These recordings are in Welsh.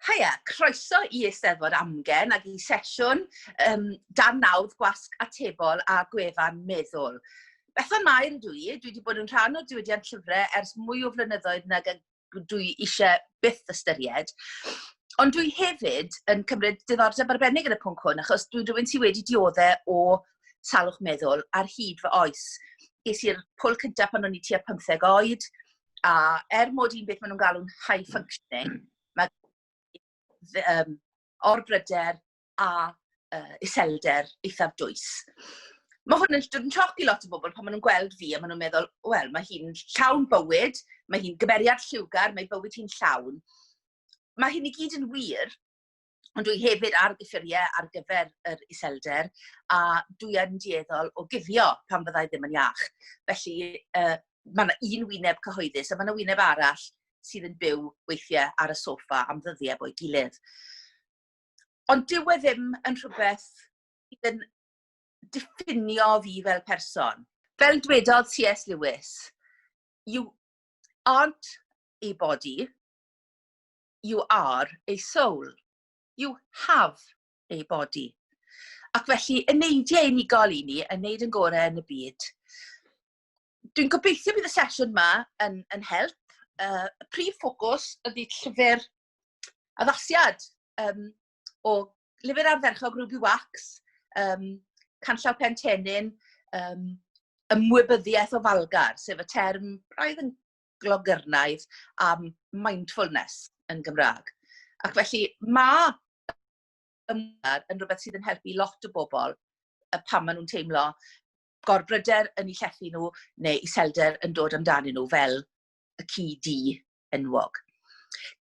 Haia, croeso i Eisteddfod Amgen ac i sesiwn um, dan nawdd gwasg atebol a gwefan meddwl. Bethan Mair ydw i, dwi wedi bod yn rhan o diwydiant llyfrau ers mwy o flynyddoedd nag dwi eisiau byth ystyried. Ond dwi hefyd yn cymryd diddordeb arbennig yn y pwnc hwn, achos dwi rhywun sydd wedi dioddau o salwch meddwl ar hyd fy oes. Ges i'r pwl cyntaf pan o'n i tua 15 oed, a er mod i'n beth maen nhw'n galw'n high functioning, mae um, orbryder a uh, iselder eithaf dwys. Mae hwn yn dod yn sioc i lot o bobl pan maen nhw'n gweld fi a maen nhw'n meddwl, wel, mae hi'n llawn bywyd, mae hi'n gymeriad lliwgar, mae bywyd hi'n llawn. Mae hyn i gyd yn wir, Ond dwi hefyd ar gyffuriau ar gyfer yr iselder a dwi yn dieddol o guddio pan fyddai ddim yn iach. Felly uh, mae yna un wyneb cyhoeddus a mae yna wyneb arall sydd yn byw weithiau ar y sofa am ddyddiau bo'i gilydd. Ond dyw e ddim yn rhywbeth sydd yn diffinio fi fel person. Fel dwedodd C.S. Lewis, you aren't a body, you are a soul. You have a body. Ac felly, y neidiau unigol i ni, yn neud yn gorau yn y byd. Dwi'n gobeithio bydd y sesiwn yma yn, yn help. Uh, y prif ffocws ydy llyfr addasiad um, o lyfr ardderchog Ruby Wax, um, Canllaw Pen Tenin, um, ymwybyddiaeth o falgar, sef y term braidd yn glogernaid am mindfulness yn Gymraeg. Ac felly mae ymwneud yn rhywbeth sydd yn helpu lot o bobl pan maen nhw'n teimlo gorbryder yn eu llethu nhw neu iselder yn dod amdanyn nhw fel y ci di enwog.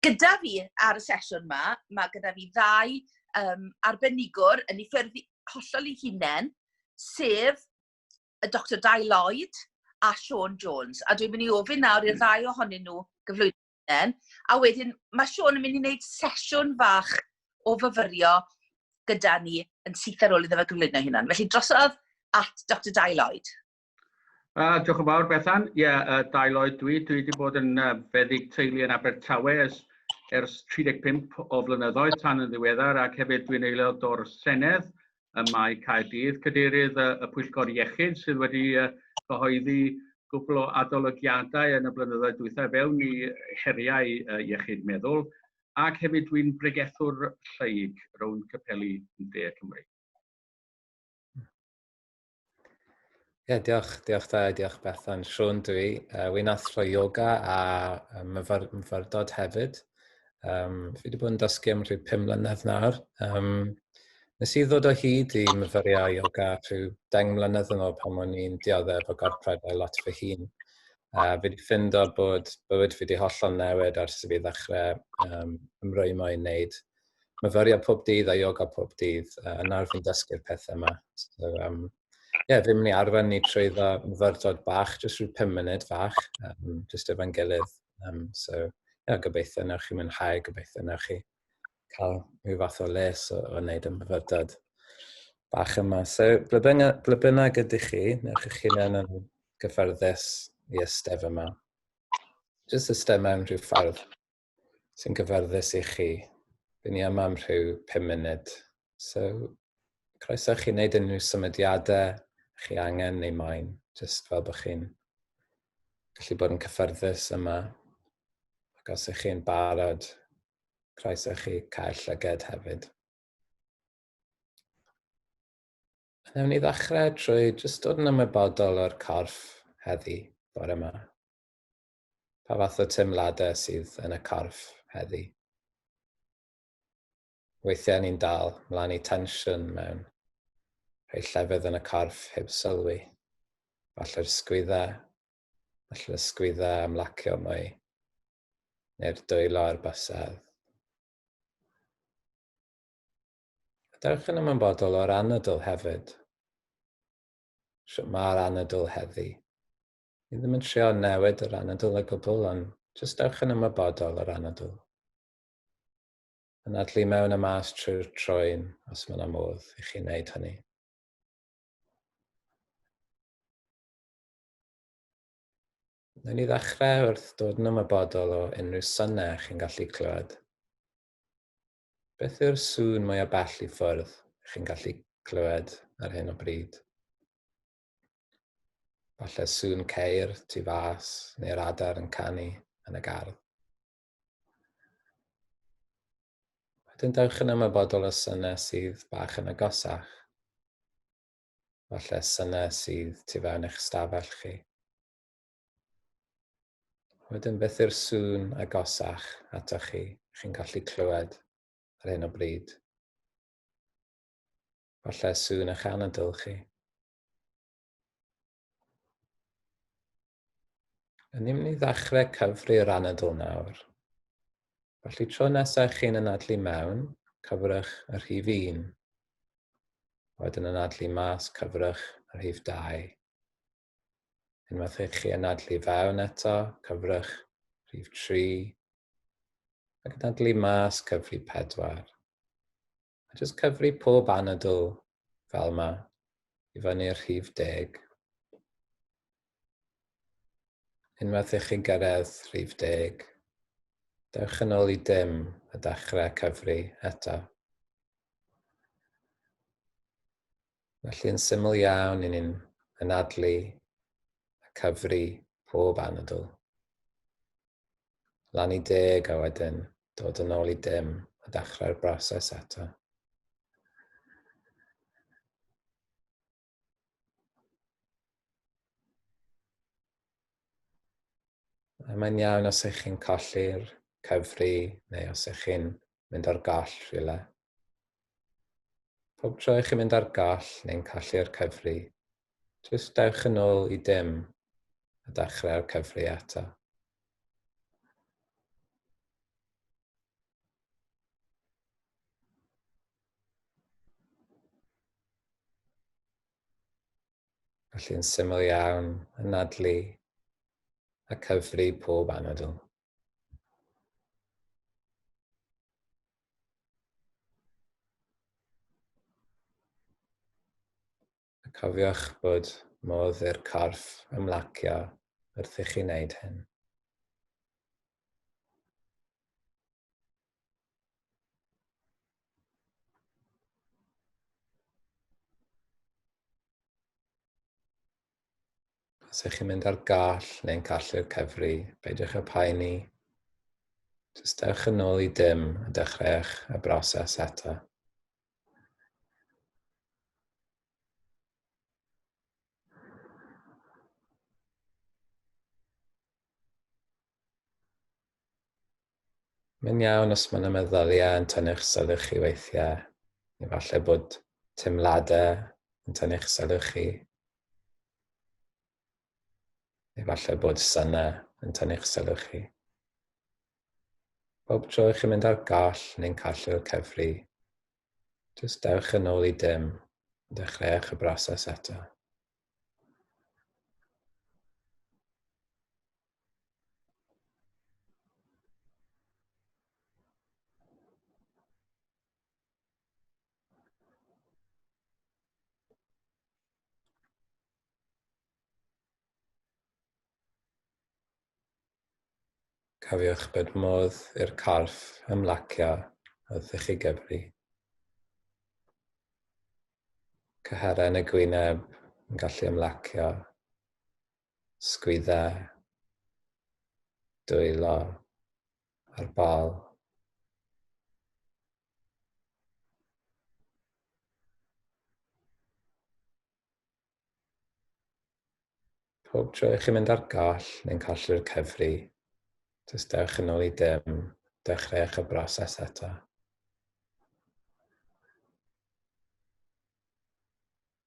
Gyda fi ar y sesiwn yma, mae gyda fi ddau um, arbenigwr yn ei ffyrdd hollol ei hunain, sef y Doctor Dai Lloyd a Sean Jones. A dwi'n mynd i ofyn nawr i'r ddau ohonyn nhw gyflwyno hynny. A wedyn, mae Sean yn mynd i wneud sesiwn fach o fyfyrio gyda ni yn syth ar ôl iddo fe gyflwyno hynny. Felly drosodd at Dr Dai Lloyd. Uh, diolch yn fawr, Bethan. Ie, yeah, uh, Dai Lloyd dwi. Dwi wedi bod yn uh, feddyg teulu yn Abertawe ers, ers 35 o flynyddoedd tan yn ddiweddar ac hefyd dwi'n aelod o'r Senedd ym Mae Caerdydd, Cadeirydd y Pwyllgor Iechyd sydd wedi cyhoeddi cwpl o adolygiadau yn y blynyddoedd dwythau fewn i heriau iechyd meddwl ac hefyd dwi'n bregethwr lleyg rownd capeli De Cymru. Ie, diolch, diolch da, diolch Bethan. Siôn dwi, uh, wy'n athro yoga a um, myfyr, myfyrdod hefyd. Um, fi wedi bod yn dysgu am rhyw pum mlynedd nawr. Um, nes i ddod o hyd i myfyrio yoga rhyw deng mlynedd yn ôl pan o'n i'n dioddef efo gorpred a lot fy hun. A fi wedi ffindo bod bywyd fi wedi hollol newid ers i fi ddechrau um, ymrwymo i wneud myfyriad pob dydd a yoga pob dydd, uh, yn arfer yn dysgu'r pethau yma. So, um, ie, yeah, fi'n mynd i arfer ni trwy dda myfyrdod bach, jyst rhyw 5 munud fach, um, jyst efo'n gilydd. Um, so, ie, yeah, gobeithio newch chi mwynhau, gobeithio newch chi cael rhyw fath o les o, o wneud y myfyrdod bach yma. So, ble bynnag ydych chi, newch chi chi'n yn gyffyrddus i ystef yma. Jyst ystef mewn rhyw ffordd sy'n gyfforddus i chi. Dyn ni yma am rhyw 5 munud. So, croeso chi wneud unrhyw symudiadau chi angen neu moyn, jyst fel bod chi'n gallu bod yn cyffyrddus yma. Ac os ych chi'n barod, croeso chi cael llyged hefyd. Newn ni ddechrau trwy jyst dod yn ymwybodol o'r corff heddi, bore yma. Pa fath o teimladau sydd yn y corff heddi? Weithiau ni'n dal mlaen i tensiwn mewn rhai llefydd yn y corff heb sylwi. Falle'r sgwydda, falle'r ysgwydda am lacio mwy, neu'r dwylo ar basedd. Dewch yn ymwybodol o'r anadl hefyd. Sut mae'r anadl heddi? Ni ddim yn trio newid yr anadl o gwbl, ond jyst ewch yn ymwybodol o'r anadl. Anadlu mewn a mas trwy'r troen, os mae yna modd i chi wneud hynny. Newn ni ddechrau wrth dod yn ymwybodol o unrhyw synau chi'n gallu clywed. Beth yw'r sŵn mwyaf bell i ffwrdd chi'n gallu clywed ar hyn o bryd? Falle sŵn ceir tu fas neu'r adar yn canu yn y gardd. Wedyn dewch yn ymwybodol o synau sydd bach yn agosach. Falle synau sydd tu fewn eich stafell chi. Wedyn beth yw'r sŵn agosach atoch chi, chi'n gallu clywed ar hyn o bryd? Falle sŵn eich anadl chi. Yn ni'n mynd i ddechrau cyfri'r anadl nawr. Felly tro nesaf chi'n anadlu mewn, cyfrwch y rhif 1. Wedyn anadlu mas, cyfrwch y rhif 2. Unwaith i chi anadlu fewn eto, cyfrwch rhif 3. Ac anadlu mas, cyfri 4. A jyst cyfri pob anadl fel yma i fyny'r rhif deg. Unwaith i chi'n gyrraedd rhif deg, dewch yn ôl i dim a dechrau cyfri eto. Felly'n syml iawn i ni'n anadlu a cyfri pob anadl. lan i deg a wedyn dod yn ôl i dim a dechrau'r broses eto. A mae'n iawn os ych chi'n colli'r cyfri neu os ych chi'n mynd ar gall rhywle. Pob tro i chi mynd ar gall neu'n callu'r cyfri, jyst dewch yn ôl i dim a dechrau'r cyfri eto. Felly'n syml iawn, anadlu a cyfri pob anadl. Cofiwch bod modd i'r corff ymlacio wrth i chi wneud hyn. Os ych chi'n mynd ar gall neu'n gallu'r cyfri, beidiwch â poeni. Jyst dewch yn ôl i dim a dechreuwch y broses eto. Mae'n iawn os mae yna meddyliau yn tynnu'ch sylw chi weithiau, neu falle bod teimladau yn tynnu'ch sylw chi. Neu falle bod syna yn tynnu'ch sylw chi. Bob tro chi'n mynd ar gall neu'n callu'r cefri, jyst dewch yn ôl i dim, dechreuwch y broses eto. Cofiwch bod modd i'r corff ymlacio wrth i chi gyfri. Cyharen y gwyneb yn gallu ymlacio sgwyddau, dwylo a'r bol. Pob tro i chi mynd ar goll neu'n colli'r cyfri, jyst dewch yn ôl i dim, dechreuwch y broses eto.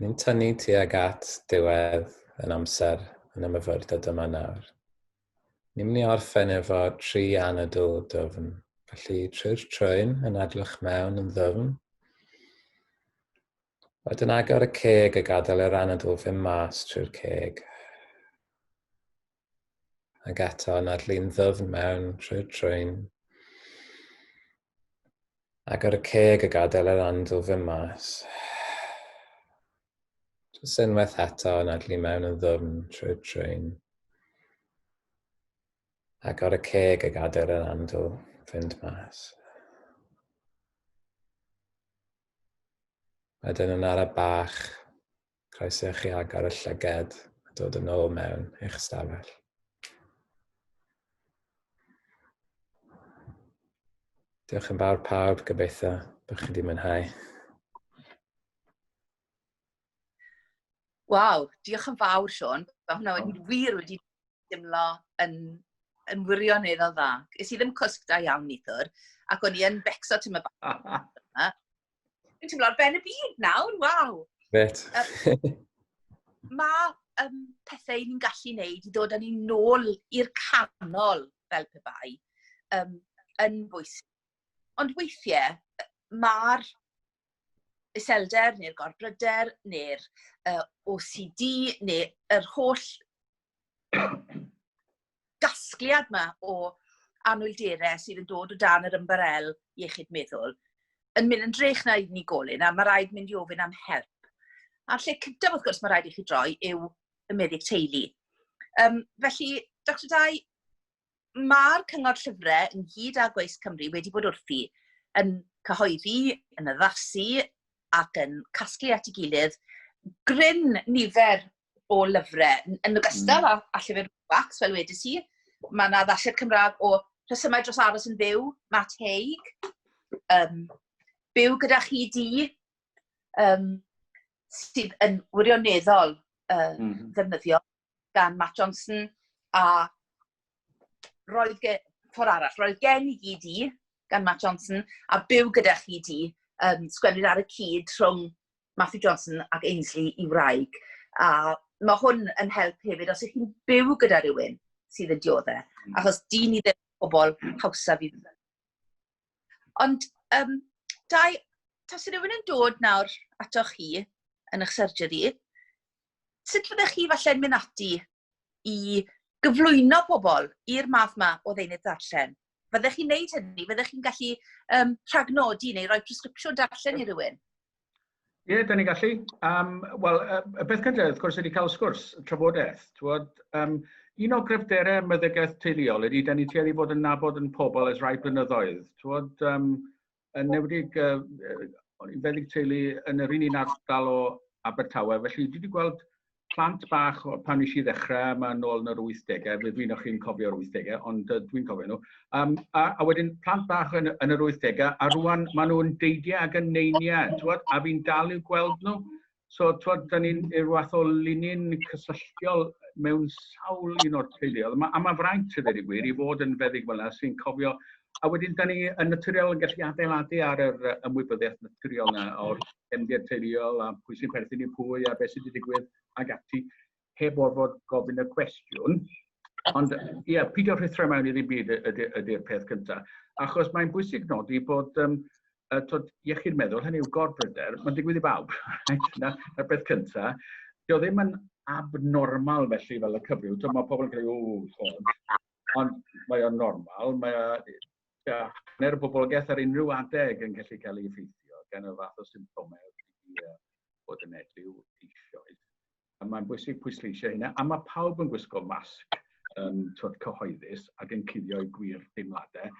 Ni'n tynnu tuag at diwedd yn amser yn y myfyrdod yma nawr. Ni'n mynd i orffen efo tri anadl dyfn. Felly trwy'r trwyn yn adlwch mewn yn ddyfn. Wedyn agor y ceg a gadael yr anadl fy mas trwy'r ceg. Ac eto, nad lun ddwfn mewn trwy'r trwyn. Ac ar y ceg y gadael yr andw fy mas. Jyst unwaith eto, nad lun mewn yn ddwfn trwy'r trwyn. Ac ar y ceg y gadael yr andw fynd mas. Wedyn yn ara bach, Croeso i chi agor y llyged a dod yn ôl mewn eich stafell. Diolch yn fawr pawb, gobeithio bod chi wedi mwynhau. Waw, diolch yn fawr Sean, mae hwnna wedi wir wedi dimlo yn, yn wirioneddol dda. Is i ddim cwsg da iawn nithwr, ac o'n i yn becso ti'n mynd bach. Dwi'n teimlo ar ben y byd nawr, waw! Gret. mae um, pethau ni'n gallu wneud i ddod â ni nôl i'r canol fel pe bai um, yn bwysig. Ond weithiau, mae'r iselder neu'r gorbryder neu'r uh, OCD neu'r holl gasgliad yma o anwyldere sydd yn dod o dan yr ymbarel iechyd meddwl yn mynd yn drech na unigolyn a mae rhaid mynd i ofyn am help. A'r lle cyntaf, wrth gwrs, mae rhaid i chi droi yw y meddyg teulu. Um, felly, Dr Dai, mae'r cyngor llyfrau yn hyd â Gweis Cymru wedi bod wrthi yn cyhoeddi, yn addasu ac yn casglu at ei gilydd gryn nifer o lyfrau, yn ogystal mm. a, a llyfr Wax, fel wedi si. Mae yna ddasiad Cymraeg o rhesymau dros aros yn fyw, Matt Haig, um, byw gyda chi di, um, sydd yn wirioneddol uh, mm -hmm. ddefnyddio gan Matt Johnson, a roedd gen, ffordd arall, roedd gen i gyd i gan Matt Johnson, a byw gyda chi di, um, sgwennu'r ar y cyd rhwng Matthew Johnson ac Ainsley i wraig. A mae hwn yn help hefyd os ych chi'n byw gyda rhywun sydd yn dioddau. Mm. Achos dyn ni ddim pobl hawsa fi. Ond, um, dau, tas rhywun yn dod nawr atoch chi yn eich surgery, sut fyddech chi falle'n mynd ati i gyflwyno pobl i'r math yma o ddeunydd darllen? Fyddech chi'n neud hynny? Fyddech chi'n gallu um, rhagnodi neu roi presgripsiwn darllen i rywun? Ie, yeah, da ni'n gallu. Um, Wel, y beth cyntaf, wrth gwrs, ydy cael sgwrs, trafodaeth. Twod, um, un o gryfderau meddygaeth teuluol ydy, da ni tueddu fod yn nabod yn pobl ers rhai blynyddoedd. Twod, um, yn newedig uh, feddyg teulu yn yr un un ardal o Abertawe, felly dwi wedi gweld plant bach pan nes i ddechrau, mae'n nôl yn yr 80au, fe dwi'n chi'n cofio'r 80au, ond uh, dwi'n cofio nhw. Um, a, a wedyn plant bach yn, yn yr 80au, a rwan maen nhw'n deidiau ac yn neiniau, twod, a fi'n dal i'w gweld nhw. So, twod, da ni'n i'r wath o linyn cysylltiol mewn sawl un o'r teuluoedd. Ma, a mae fraint y ddeud gwir i fod yn feddyg fel yna sy'n cofio A wedyn, da ni yn naturiol yn gallu adeiladu ar yr ymwybyddiaeth naturiol yna o'r cefndir teuluol a pwy sy'n perthyn i pwy a beth sydd wedi digwydd ag ati. heb orfod gofyn y cwestiwn. Ond ie, yeah, pidio rhithro mewn i ddim byd ydy'r ydy, ydy peth cyntaf. Achos mae'n bwysig nodi bod um, uh, tod, iechyd meddwl, hynny yw gorbryder, mae'n digwydd i bawb. Na'r na peth cyntaf. Dio ddim yn abnormal felly fel y cyfryw. Tod, mae pobl yn cael ei wrdd, ond mae o'n normal. Mae ja, hanner y boblogaeth ar unrhyw adeg yn gallu cael ei effeithio gan y fath o symptomau bod yn edrych eisoes. a mae'n bwysig pwysleisio hynna, a mae pawb yn gwisgo masg um, twyd cyhoeddus ac yn cuddio'i gwir deimladau.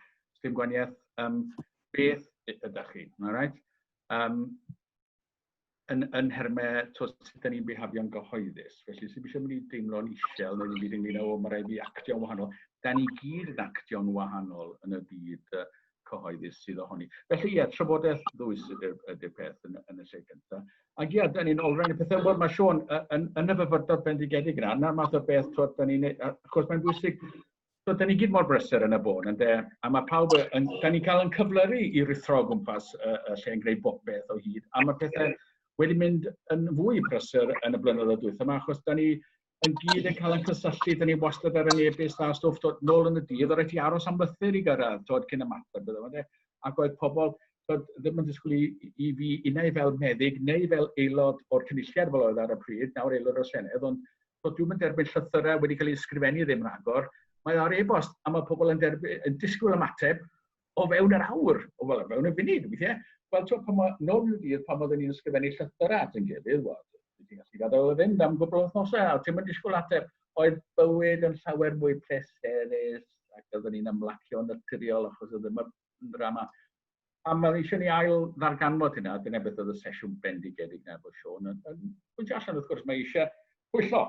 Dim gwaniaeth um, beth ydych chi, mae'n rhaid? Um, yn, yn hermau twyd sut ydyn ni'n behafio'n gyhoeddus. Felly, sy'n eisiau mynd i deimlo'n isel neu'n byd ynglyn â, o, mae rhaid i actio'n wahanol. Da ni gyd yn actio'n wahanol yn y byd uh, cyhoeddus sydd ohoni. Felly ie, trafodaeth ddwys ydy'r ydy peth yn, yn y lle gyntaf. Ac ie, da ni'n olrhain y pethau mor mae Sean yn, yn y fyfyrdod bendigedig yna, yna'r math o beth, twyd, da ni'n, achos mae'n bwysig, twyd, da ni gyd mor brysur yn y bôn, ynddo, a mae pawb, yn, da ni'n cael yn cyflyru i rithro o gwmpas y, y lle yn gwneud bob beth o hyd, a mae pethau wedi mynd yn fwy prysur yn y blynyddoedd dwytha yma, achos da ni yn gyd yn cael ein cysylltu, dyn ni wastad ar yn ebus da stwff, dod nôl yn y dydd, oedd rhaid ti aros am lythyr i gyrraedd, dod cyn y mater, bydde fe. Ac oedd pobl dod, ddim yn disgwyl i, i fi unau fel meddyg neu fel aelod o'r cynulliad fel oedd ar y pryd, nawr aelod o'r Senedd, ond dod dwi'n mynd derbyn llythyrau wedi cael ei ysgrifennu ddim rhagor. Mae ar e-bost a mae pobl yn, derby, yn disgwyl ymateb, o fewn yr awr, o fel, fewn y funud, weithiau. Wel, ti'n pan mae nôl i'w dydd, pan oedden ni'n ysgrifennu llythyr at yn gilydd, wel, ti'n gallu gadael o fynd am gwbl wythnosau, a ti'n mynd disgwyl ateb, oedd bywyd yn llawer mwy pleserus, ac oedden ni'n ymlacio yn naturiol achos oedd ddim yn drama. A mae eisiau ni ail ddarganfod hynna, dyna beth oedd y sesiwn bendigedig na bod Sean yn, yn pwyntio allan, wrth gwrs, mae eisiau pwyllo,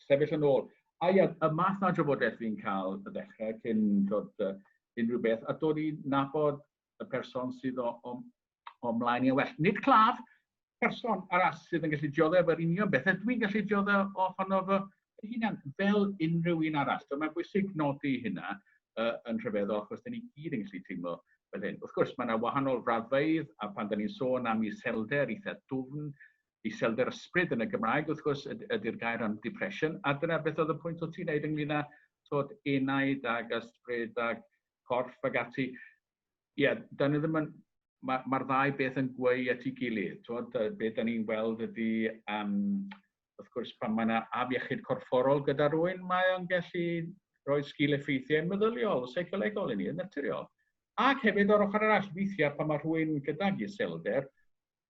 sefyll yn ôl. A ia, y math na drafodaeth fi'n cael y ddechrau cyn dod uh, unrhyw beth, a dod i nabod y person sydd o, o, o mlaen i well. Nid claf, person arall sydd yn gallu dioddef efo'r union beth, a dwi'n gallu dioddef ohono fy hunan fel unrhyw un arall. So, mae'n bwysig nodi hynna uh, yn rhyfeddol, achos da ni gyd yn gallu teimlo fel hyn. Wrth gwrs, mae yna wahanol raddfeidd, a pan da ni'n sôn am iselder eitha dwfn, iselder ysbryd yn y Gymraeg wrth gwrs ydy'r gair am depression, a dyna beth oedd y pwynt o ti'n neud ynglyn â tod enaid ag ysbryd ag corff ag ati. Ie, yeah, da ni ddim yn... Mae'r ma ddau beth yn gweu at ei gilydd. Tod, be da ni'n weld ydy, um, wrth gwrs, pan mae yna afiechyd corfforol gyda rhywun, mae o'n gallu rhoi sgil effeithiau meddyliol, seicolegol i ni, yn naturiol. Ac hefyd o'r ochr arall, weithiau pan mae rhywun gydag iselder,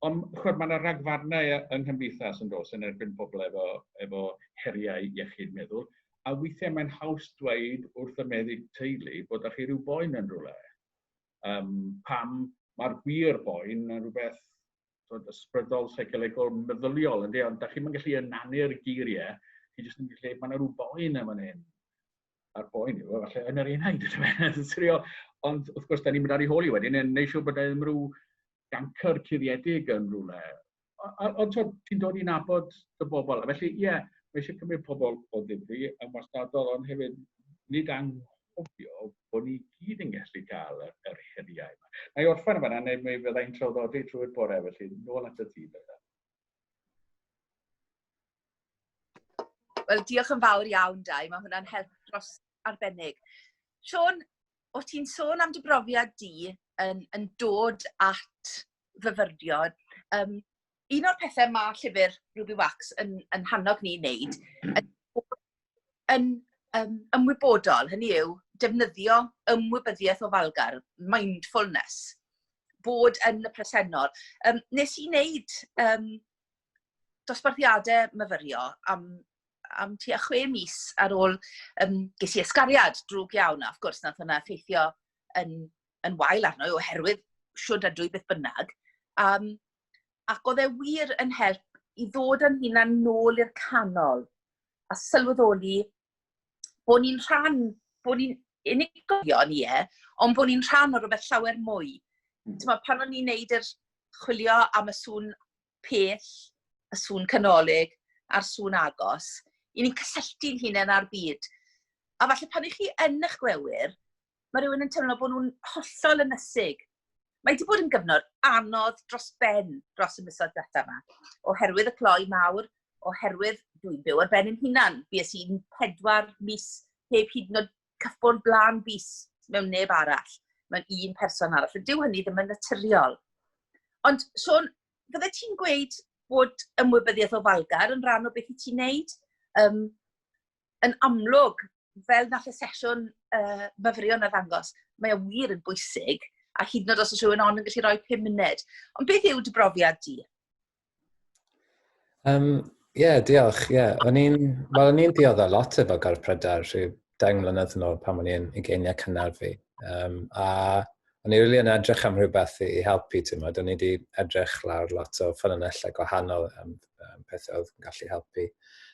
Ond chwbl, mae yna ragfarnau yng nghymdeithas yn dos yn erbyn pobl efo, efo heriau iechyd meddwl, a weithiau mae'n haws dweud wrth y meddyg teulu bod â chi rhyw boen yn rhywle. Um, pam mae'r gwir boen yn rhywbeth bod, ysbrydol, seicolegol, meddyliol, ynddi, ond da chi'n gallu ynanu'r geiriau, chi jyst yn gallu, mae yna rhyw boen yn fan hyn. a'r boen yw, falle yn yr un haid, yn sirio. Ond wrth gwrs, da ni'n mynd ar ei holi wedyn, yn neud siŵr bod e ddim rhyw gancr cuddiedig yn rhywle. Ond ti'n dod i'n abod y bobl. A felly, ie, yeah, mae eisiau cymryd pobl o ddifri yn wastadol, ond hefyd nid anghofio bod ni gyd yn gallu cael yr, yr heriau yma. Mae orffen yma, neu mi fyddai'n traddodi trwy'r bore, felly nôl at y tîm. Wel, diolch yn fawr iawn, Dai. Mae hwnna'n help dros arbennig. Siôn, o ti'n sôn am dy brofiad di yn, yn dod at fyfyriod, um, un o'r pethau mae llyfr Ruby Wax yn, yn hannog ni wneud, yn, yn um, ymwybodol, hynny yw, defnyddio ymwybyddiaeth o falgar, mindfulness, bod yn y presennol. Um, nes i wneud um, dosbarthiadau myfyrio am, am tua chwe mis ar ôl, um, ges i ysgariad drwg iawn, a wrth gwrs, nath hwnna effeithio yn, yn wael arno oherwydd siwr ydw i beth bynnag. Um, ac oedd e wir yn help i ddod yn hunan nôl i'r canol a sylweddoli bod ni'n rhan, bod ni'n unigolion i e, ond bod ni'n rhan o rhywbeth llawer mwy. Mm. Mae pan o'n i'n neud yr chwilio am y sŵn pell, y sŵn canolig a'r sŵn agos, i ni'n cysylltu'n hunain â'r byd. A falle pan ych chi yn eich gwewyr, mae rhywun yn teimlo bod nhw'n hollol ynysig. Mae wedi bod yn gyfnod anodd dros ben dros y misoedd diwetha yma, oherwydd y cloi mawr, oherwydd dwi'n byw ar ben yn hunan. Bues i'n pedwar mis heb hyd yn oed cyffwrdd blaen bus mewn neb arall, mewn un person arall. Ond dyw hynny ddim yn naturiol. Ond, Sean, fydde ti'n gweud bod ymwybyddiaeth o falgar yn rhan o beth i ti'n neud? Um, yn amlwg, fel nath y sesiwn uh, myfyrion a ddangos, mae o wir yn bwysig, a hyd yn oed os oes rhywun ond yn gallu rhoi 5 munud. Ond beth yw dy brofiad di? Um, Ie, yeah, diolch. Ie, yeah. o'n i'n well, o'n i'n diodda lot efo gorff prydau rhyw deng mlynedd yn ôl pan o'n i'n ugeiniau cynnar fi. Um, a o'n i'n really yn edrych am rhywbeth i, i helpu, ti'n modd. O'n i wedi edrych lawr lot o ffynonellau gwahanol am um, pethau oedd yn gallu helpu.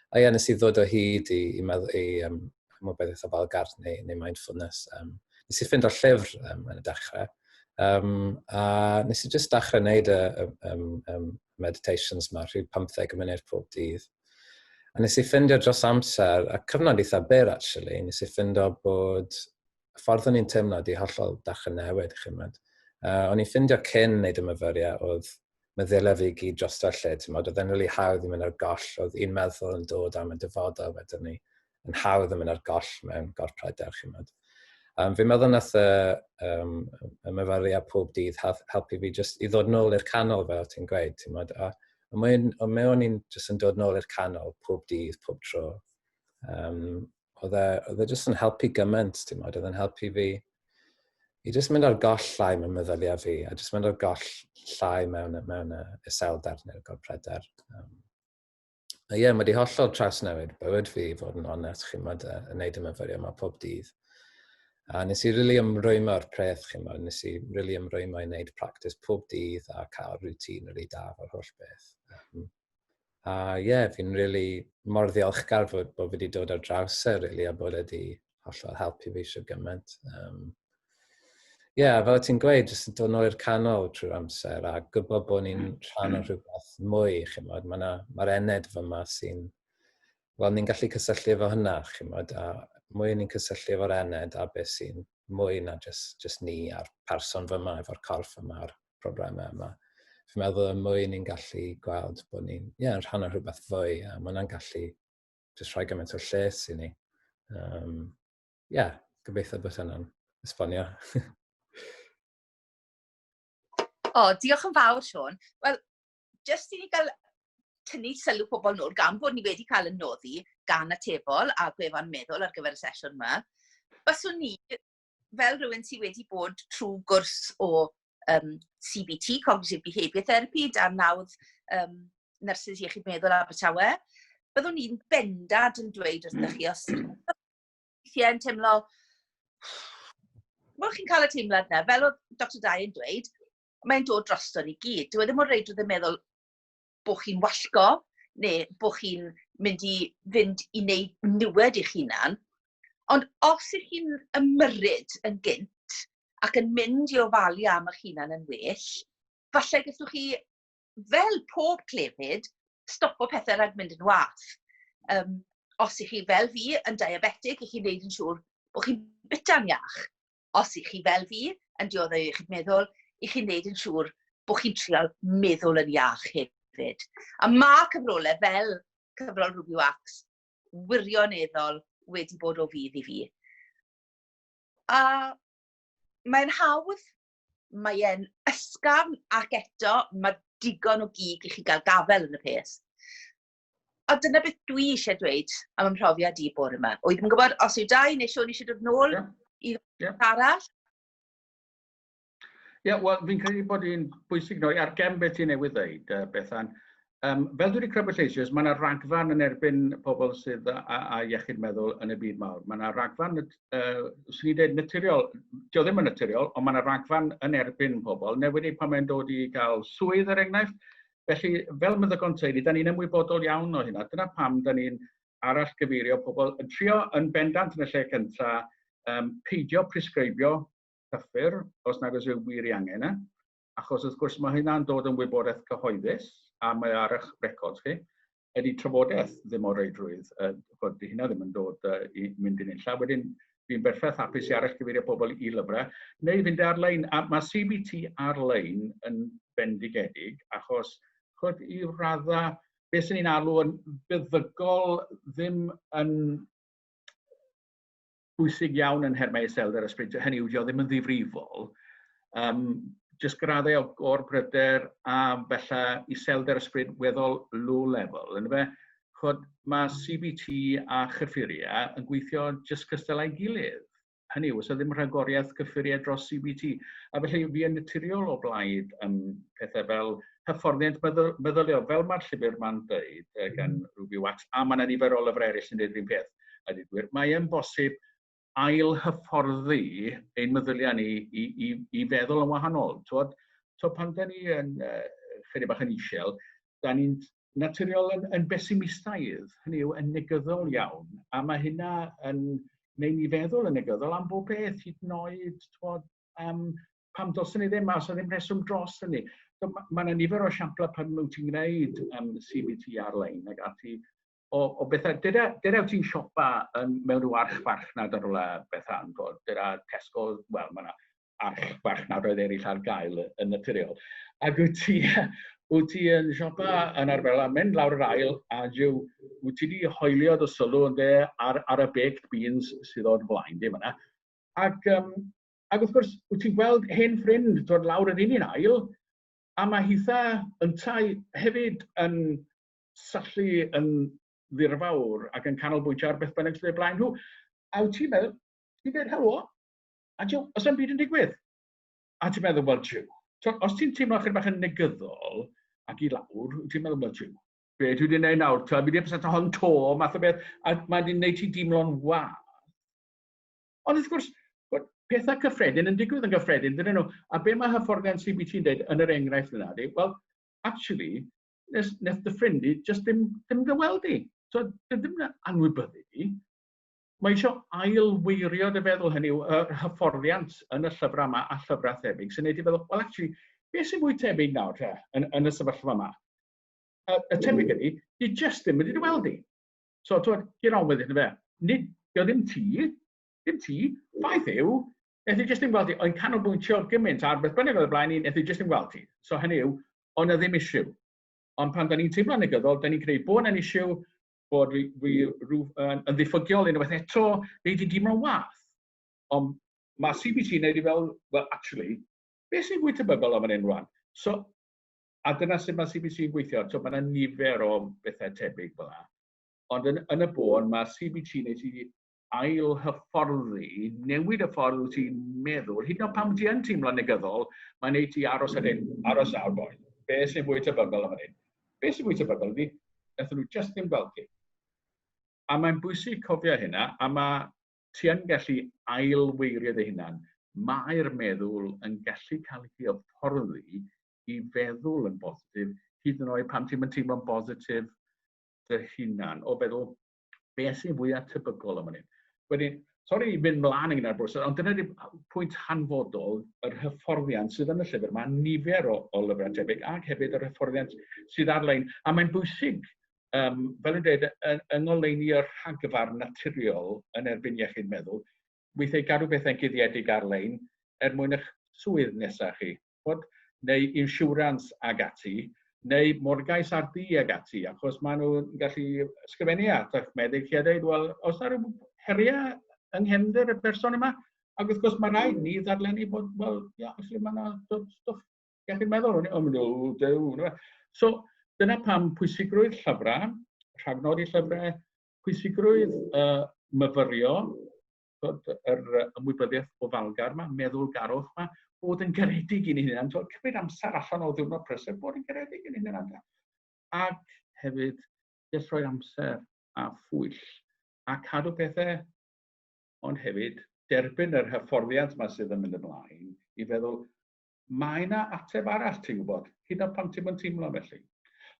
A ie, nes i ddod o hyd i, i, i, i um, chymod beth eitha fel garth neu, neu mindfulness. Um, nes i ffind o'r llyfr um, yn y dechrau. Um, a nes i jyst dechrau wneud y, y, y, y meditations yma rhyw 15 munud pob dydd. A nes i ffindio dros amser, a cyfnod eitha byr actually, nes i ffindio bod y ffordd o'n i'n teimlo di hollol dach yn newid, chi'n mynd. Uh, o'n i'n ffindio cyn neud y myfyriau oedd meddylia fi gyd dros lle, ti'n modd, oedd e'n really hawdd i mynd ar goll, oedd un meddwl yn dod am y dyfodol wedyn ni, yn hawdd yn mynd ar goll mewn gorff pryder, chi'n modd. Um, fi'n meddwl nath y, um, y myfyriad pob dydd helpu fi just i ddod nôl i'r canol fel ti'n gweud, ti'n modd, a, a mewn, mewn i'n just yn dod nôl i'r canol pob dydd, pob tro. Um, oedd e, oedd e jyst yn helpu gymaint, ti'n modd, oedd e'n helpu fi i jyst mynd ar goll llai mewn meddyliau fi, a jyst mynd ar goll llai mewn, mewn uh, iselder neu'r gorpredder. Um, a ie, yeah, mae wedi hollol trawsnewid bywyd fi i fod yn onest, chi'n modd, uh, yn neud y myfyrio yma pob dydd. A nes i rili really ymrwymo ar preth, chi'n modd, nes i rili really ymrwymo i wneud practis pob dydd a cael rŵtîn rili really daf o'r holl beth. Um, A ie, yeah, fi'n really mor ddiolchgar fod, bod fi wedi dod ar draws e, really, a bod e wedi hollol helpu fi eisiau gymaint. Um, Ie, yeah, fel ti'n gweud, jyst yn dod nôl i'r canol trwy'r amser a gwybod bod ni'n mm. rhan o rhywbeth mwy, chi'n modd. Mae'r ma ened fy yma sy'n... Wel, ni'n gallu cysylltu efo hynna, chi'n modd, a mwy ni'n cysylltu efo'r ened a beth sy'n mwy na just, just ni a'r person fy yma, efo'r corff yma, a'r problemau yma. Fi'n meddwl y mwy ni'n gallu gweld bod ni'n yeah, rhan o rhywbeth fwy, a mae hwnna'n gallu jyst rhoi gymaint o lles i ni. Um, yeah, gobeithio bod hynna'n esbonio. o, oh, diolch yn fawr, Sean. Wel, jyst i ni gael tynnu sylw pobl nôl gan bod ni wedi cael yn noddi gan atebol a gwefan meddwl ar gyfer y sesiwn yma. Baswn ni fel rhywun sydd wedi bod trwy gwrs o um, CBT, Cognitive Behaviour Therapy, dan nawdd um, Nyrsys Iechyd Meddwl Abertawe, byddwn i'n bendad yn dweud wrthych chi, os weithiau yn teimlo, wel chi'n cael y teimlad yna, fel oedd Dr Dai yn dweud, mae'n dod drosto ni gyd. Dwi e ddim mor reid oedd yn meddwl, bod chi'n wallgo neu bod chi'n mynd i fynd i wneud niwed i'ch hunan. Ond os ych chi'n ymyrryd yn gynt ac yn mynd i ofalu am eich hunan yn well, falle gallwch chi, fel pob clefyd, stopo pethau rhag mynd yn wath. Um, os ych chi fel fi yn diabetig, ych chi'n gwneud yn siŵr bod chi'n byta'n iach. os i chi fel fi, yn dioddau o iechyd meddwl, i chi'n neud yn siŵr bod chi'n trial meddwl yn iach hefyd. A mae cyfrolau fel cyfrol Ruby Wax wirioneddol wedi bod o fydd i fi. A mae'n hawdd, mae e'n ysgafn ac eto mae digon o gig i chi gael gafel yn y peth. a dyna beth dwi eisiau dweud am ym mhrofiad i bore yma. O'i ddim yn gwybod os yw dau neu Siôn eisiau dod nôl yeah. i yeah. arall. Ie, yeah, wel, fi'n credu bod hi'n bwysig noi ar gem beth ti newydd ddeud, uh, Bethan. Um, fel dwi wedi crybwyll eisoes, mae yna ragfarn yn erbyn pobl sydd â, a, a iechyd meddwl yn y byd mawr. Mae yna ragfarn, uh, swn i'n dweud naturiol, dio ddim yn naturiol, ond mae yna ragfarn yn erbyn pobl. Newid ei pan mae'n dod i gael swydd, er enghraifft, Felly, fel meddygon teulu, da ni'n ymwybodol iawn o hynna. Dyna pam da ni'n arall gyfeirio pobl yn trio yn bendant yn y lle cynta, um, peidio presgribio cyffur os nad oes wir i angen e, achos wrth gwrs mae hynna'n dod yn wybodaeth cyhoeddus a mae ar eich records chi. ydy trafodaeth ddim o reidrwydd, uh, bod di hynna ddim yn dod uh, i mynd i'n unlla. Wedyn, fi'n berffaith hapus i arall gyfeirio pobl i lyfrau, neu fynd ar-lein, a mae CBT ar-lein yn bendigedig, achos chod i radda, beth sy'n ni'n alw yn byddygol ddim yn bwysig iawn yn nhermau iselder a sbrintiau, hynny yw, dio ddim yn ddifrifol. Um, just graddau o gor bryder a felly iselder ysbryd weddol low level. Yn fe, chod, mae CBT a chyffuria yn gweithio just cystal a'i gilydd. Hynny yw, os ddim rhagoriaeth cyffuriau dros CBT. A felly, fi yn naturiol o blaid um, pethau fel hyfforddiant meddyliol, fel mae'r llyfr ma'n dweud gan Ruby Wax, a mae'n nifer o lyfrau eraill yn dweud yr un peth. a dweud gwir. Mae e'n bosib ail hyfforddi ein meddyliau ni i, i, i feddwl yn wahanol. Twod, twod pan da ni yn uh, chydig bach yn isel, da ni'n naturiol yn, yn besimistaidd, hynny yw yn negyddol iawn, a mae hynna yn gwneud ni feddwl yn negyddol am bob beth, hyd yn oed, twod, um, pam dylsyn ni ddim, a os ddim rheswm dros hynny. Mae yna nifer o siamplau pan wyt ti'n gwneud um, CBT ar-lein ac ati, o, o bethau, dyda, dyda ti'n siopa yn, mewn rhyw arch farchnad ar ola bethau yn dod, dyda Tesco, wel, mae yna arch farchnad oedd eraill ar gael yn naturiol. Ac wyt ti, wyt ti yn siopa yn arferol a mynd lawr yr ail a jiw, wyt ti wedi hoelio dy sylw yn de ar, ar y baked beans sydd o'r flaen, dim yna. Ac, um, ac wrth gwrs, wyt ti'n gweld hen ffrind dod lawr yr un un ail, a mae hitha yntau hefyd yn syllu yn ddirfawr ac yn canolbwyntio ar beth bynnag sydd eu blaen nhw. A wyt ti'n meddwl, ti'n dweud helo, a ti'n os am byd yn digwydd. A ti'n meddwl, wel, jiw. So, os ti'n teimlo chyda bach yn negyddol ac i lawr, wyt ti'n meddwl, wel, jiw. Be dwi wedi gwneud nawr, ta, fi wedi pasat hon to, math o beth, a mae wedi gwneud ti dimlo'n wath. Ond wrth gwrs, pethau cyffredin yn digwydd yn gyffredin, dyn nhw. A be mae hyfforddiant CBT yn dweud yn yr enghraifft yna, di, wel, actually, nes nes dy ffrind di jyst ddim ddim dy weld di. So dwi ddim yn anwybyddu di. Mae eisiau ailweirio dy feddwl hynny yw yr hyfforddiant yn y llyfrau yma a llyfrau thebyg sy'n neud i feddwl, well actually, beth sy'n fwy tebyg nawr te yn, yn y sefyllfa yma? Y, y tebyg ydy, di jyst ddim wedi dy weld di. So, twyd, get on with it, fe. Nid, dio ddim ti, Dim ti, ffaith yw, nes i jyst ddim gweld ti, o'n canolbwyntio gymaint ar beth bynnag oedd y blaen i, nes i jyst ddim gweld ti. So hynny yw, o'n na ddim issue. Ond pan da ni'n teimlo'n negyddol, da ni'n gwneud bod yna'n issue, bod fi, fi rhyw, yn, yn ddiffygiol unwaith eto, neu di dimlo'n wath. Ond mae CBT yn neud i fel, well, actually, beth sy'n fwy tebygol am yn un rwan? So, a dyna sut mae CBT yn gweithio. So, mae yna nifer o bethau tebyg fel yna. Ond yn, yn y bôn, mae CBT yn neud i ail-hyfforddi, newid y ffordd wyt ti'n meddwl, hyd yn oed pan ti yn teimlo'n negyddol, mae'n ei ti aros ar hyn, aros nawr boi. Be sy'n fwy tebygol am hyn? Be sy'n fwy tebygol ydy, nath nhw just ddim gweld ti. A mae'n bwysig cofio hynna, a mae ti yn gallu ailweirio dy hunan. Mae'r meddwl yn gallu cael ei hyfforddi i feddwl yn bositif, hyd yn oed pan ti'n teimlo'n bositif dy hunan, o feddwl beth sy'n fwyaf tebygol am hynny. Wedyn, sori i fynd mlaen yn ar bwys, ond dyna di pwynt hanfodol yr hyfforddiant sydd yn y llyfr. Mae nifer o, o lyfrau tebyg ac hefyd yr hyfforddiant sydd ar-lein. A mae'n bwysig, um, fel yn dweud, yng ngoleuni y rhagfarn naturiol yn erbyn iechyd meddwl, weithiau gadw pethau'n guddiedig ar-lein er mwyn eich swydd nesaf chi, ch'mod, neu insiwrans ag ati, neu morgais ar dŷ ag ati, achos maen nhw'n gallu ysgrifennu at eich meddyg chi a dweud, wel, oes yna rhyw heriau yng nghefnder y person yma? Ac wrth gwrs, mae rhaid ni ddarllennu bod, wel, ia, felly mae yna stwff iechyd meddwl, o'n i'n meddwl, dew, So, dyna pam pwysigrwydd llyfrau, rhagnodi llyfrau, pwysigrwydd y myfyrio, yr ymwybyddiaeth ofalgar yma, meddwlgarwch yma, bod yn garedig i'n hunan, twod, cymryd amser allan o ddiwrnod prysur, bod yn garedig i'n hunan amdano. Ac hefyd, jyst rhoi amser a phwyll a cadw pethau, ond hefyd derbyn yr hyfforddiant yma sydd yn mynd ymlaen i feddwl, Mae 'na ateb arall ti'n gwybod, hyd yn oed pan ti'm yn teimlo felly.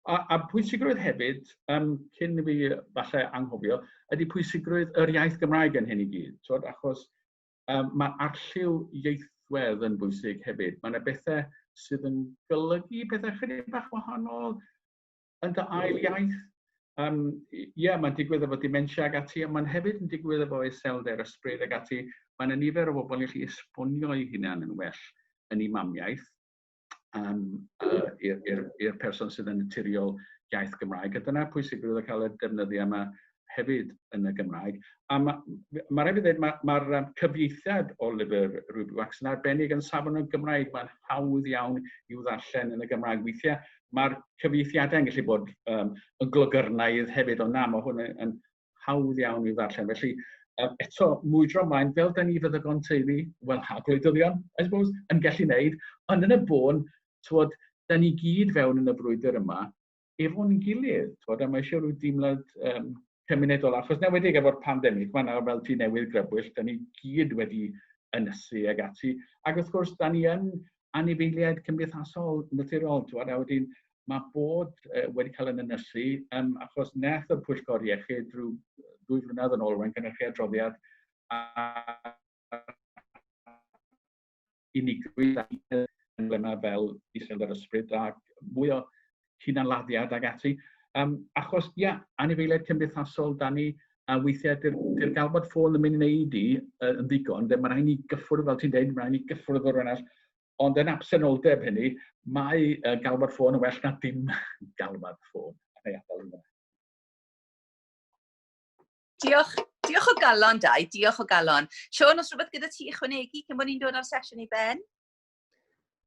A, a pwysigrwydd hefyd, um, cyn i fi falle anghofio, ydy pwysigrwydd yr iaith Gymraeg yn hyn i gyd. Twod, achos um, mae arlliw ieithwedd yn bwysig hefyd. Mae yna bethau sydd yn golygu pethau chydig bach wahanol. yn dy ail iaith. Um, ie, yeah, mae'n digwydd efo dementia ag ati, ond mae'n hefyd yn digwydd efo iselder, ysbryd ag ati. Mae'n y nifer o bobl i chi esbonio i hunan yn well yn ei mamiaeth um, uh, i'r person sydd yn naturiol iaith Gymraeg. A dyna pwysigrwydd o cael y defnyddiau yma hefyd yn y Gymraeg. A mae ma rhaid i ddweud, mae'r ma, ma cyfieithiad o lyfr Ruby Wax yn arbennig yn safon y Gymraeg. Mae'n hawdd iawn i'w ddarllen yn y Gymraeg. Weithiau mae'r cyfieithiadau yn gallu bod um, yn glogyrnaidd hefyd, ond na, mae hwn yn, yn hawdd iawn i'w ddarllen. Felly, um, eto, mwydro ymlaen, fel da ni fyddygon teulu, wel, a gwleidyddion, I suppose, yn gallu wneud, ond yn y bôn, twod, da ni gyd fewn yn y brwydr yma, efo'n gilydd, twod, a mae eisiau rhyw deimlad um, cymunedol, achos newedig efo'r pandemig, mae yna fel tu newydd grybwyll, da ni gyd wedi ynysu ag ati, ac wrth gwrs, da ni yn anifeiliaid cymdeithasol naturiol, twod, a wedyn mae bod uh, wedi cael yn ynysu, um, achos neth y pwyllgor iechyd drwy ddwy flynedd yn ôl, mae'n gynnychu adroddiad, a unigrwydd a emblemau fel Israel yr Ysbryd a mwy o hunanladdiad ac ati. Um, achos, ia, yeah, anifeiliaid cymdeithasol, da ni, a weithiau dy'r gael bod ffôn yn mynd i wneud i yn ddigon, de, mae rhaid ni gyffwrdd, fel ti'n dweud, mae rhaid ni gyffwrdd o'r arall, ond yn absenoldeb hynny, mae uh, gael bod ffôn yn well na dim gael bod ffôn. Neu adael yna. Diolch, diolch o galon, Dai. Diolch o galon. Sean, os rhywbeth gyda ti ychwanegu cyn bod ni'n dod ar sesiwn i ben?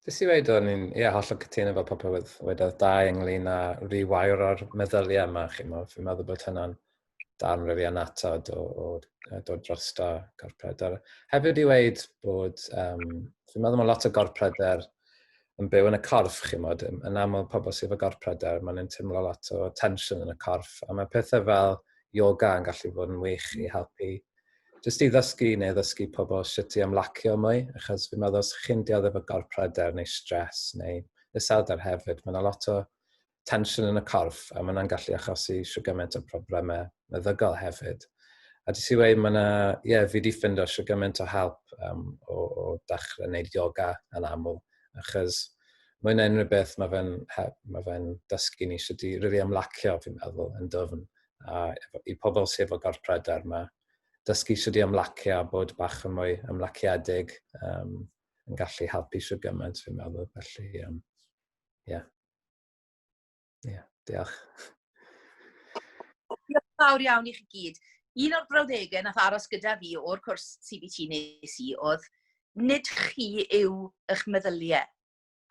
Dys i wedi o'n i'n, ie, hollol cytuno efo popeth oedd wedodd dau ynglyn â rewire o'r meddyliau yma, chi mo. Fi'n meddwl bod hynna'n darn rydw i anatod o, o, o dod dros da corpredr. Hefyd i wedi bod, um, fi'n meddwl mae lot o gorpredr yn byw yn y corff, chi'n modd, yn aml pobl sydd efo gorff pryder, maen nhw'n teimlo lot o tensiwn yn y corff, a mae pethau fel yoga yn gallu bod yn wych i helpu jyst i ddysgu neu ddysgu pobl sut i ymlacio mwy, achos fi'n meddwl os chi'n dioddef o gorff pryder neu stres neu iselder hefyd, mae yna lot o tensiwn yn y corff, a mae yna'n gallu achosi siwgament o problemau meddygol hefyd. A di si wei, mae yna, ie, yeah, fi di ffind o siwgament o help um, o, o dachrau wneud yoga yn aml, achos mae yna unrhyw beth mae fe'n ma fe dysgu ni sydd wedi rili really ymlacio, fi'n meddwl, yn dyfn. A i pobl sydd efo gorff pryder, mae dysgu sydd wedi ymlacio a bod bach yn mwy ymlaciedig um, yn gallu helpu sydd gymaint, fi'n meddwl. Felly, um, yeah. Ie, yeah, diolch. Diolch fawr iawn i chi gyd. Un o'r brawddegau nath aros gyda fi o'r cwrs CBT nes i oedd nid chi yw eich meddyliau.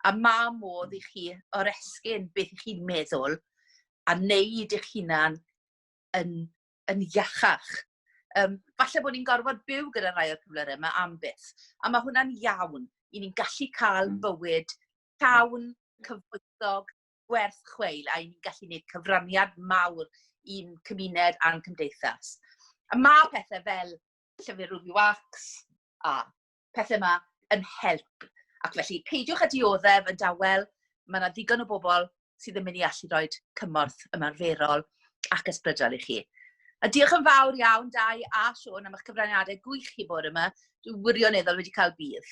A ma modd i chi oresgyn beth i chi'n meddwl a wneud eich hunan yn, yn iachach. Um, falle bod ni'n gorfod byw gyda rhai o'r cyflyrau yma am byth. A mae hwnna'n iawn. I ni'n gallu cael hmm. bywyd llawn, cyfoethog, gwerth chweil, a ni'n gallu gwneud cyfraniad mawr i'n cymuned a'n cymdeithas. A mae pethau fel llyfr Ruby Wax a pethau yma yn help. Ac felly, peidiwch â dioddef yn dawel, mae yna ddigon o bobl sydd yn mynd i allu rhoi cymorth ymarferol ac ysbrydol i chi. A diolch yn fawr iawn, Dai a Siôn, am eich cyfraniadau gwych chi bore yma. Dwi'n wirioneddol wedi cael bydd.